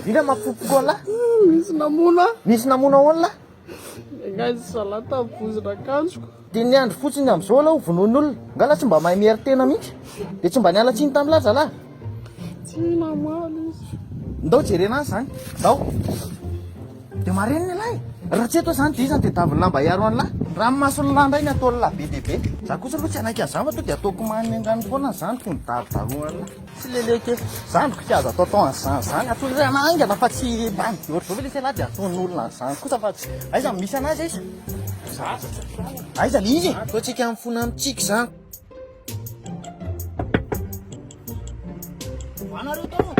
Vina mapopoko an lah. Misy namono ahy. Misy namono ahoana lah? Nengahy izy zalahy tamin'ny vozona akanjoko. Dia ny andro fotsiny amin'izao lah ho vonoin'olona. Nga lah tsy mba mahay mihery tena mihitsy? Dia tsy mba niala tsiny tamin'ny lah zalahy? Tsy namaly izy. Ndao jerena an zany. Ndao. Dia marenina ialahy e. Raha tsy eto aho zany dia iza no tedavy ny lamba hiaro an lah? Ranomason'ny lah indray ny ataon'ny lah be dia be. Za kosa aloha tsy hanaiky an'izany fa tonga dia ataoko manindrano foana izany toy ny darodaroan'ny lah. Tsy lele kely. Za mboka tsy azo atao atao an'izany zany. Ataon'ny olona haingana fa tsy mba mijoro zao ve lesy ialahy dia ataon'ny olona an'izany kosa fa tsy aiza no misy anazy aiza? Aiza le izy e? Ataontsika mifona mitsiky izany. Ho anareo tao.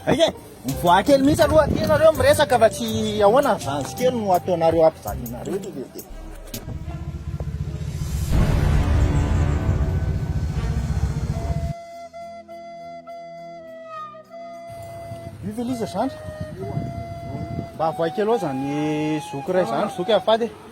Aiza e? Mivoaha kely mihitsy aloha aty ianareo miresaka fa tsy ahoana ny zanjy kely no ataonareo hampijalianareo ity lehibe. Io ve ilay izy ry zandry? Mba avoahy kely ao izany zoky iray izany, zoky azafady e.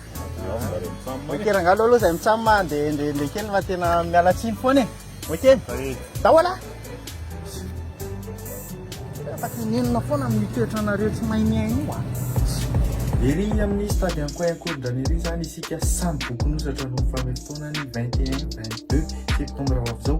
Ok rangalo aloha zay mitsam a de ndre ndre kely fa tena miala tsiny foana e ok dahola fa tenenina foana amin'ny toetra anareo tsy mahay mihaino io a Ery amin'ny stade Ankoayankorondrana ery izany isika samy bokonosatra no mifamefotoana ny 21, 22 septambra ho avy izao.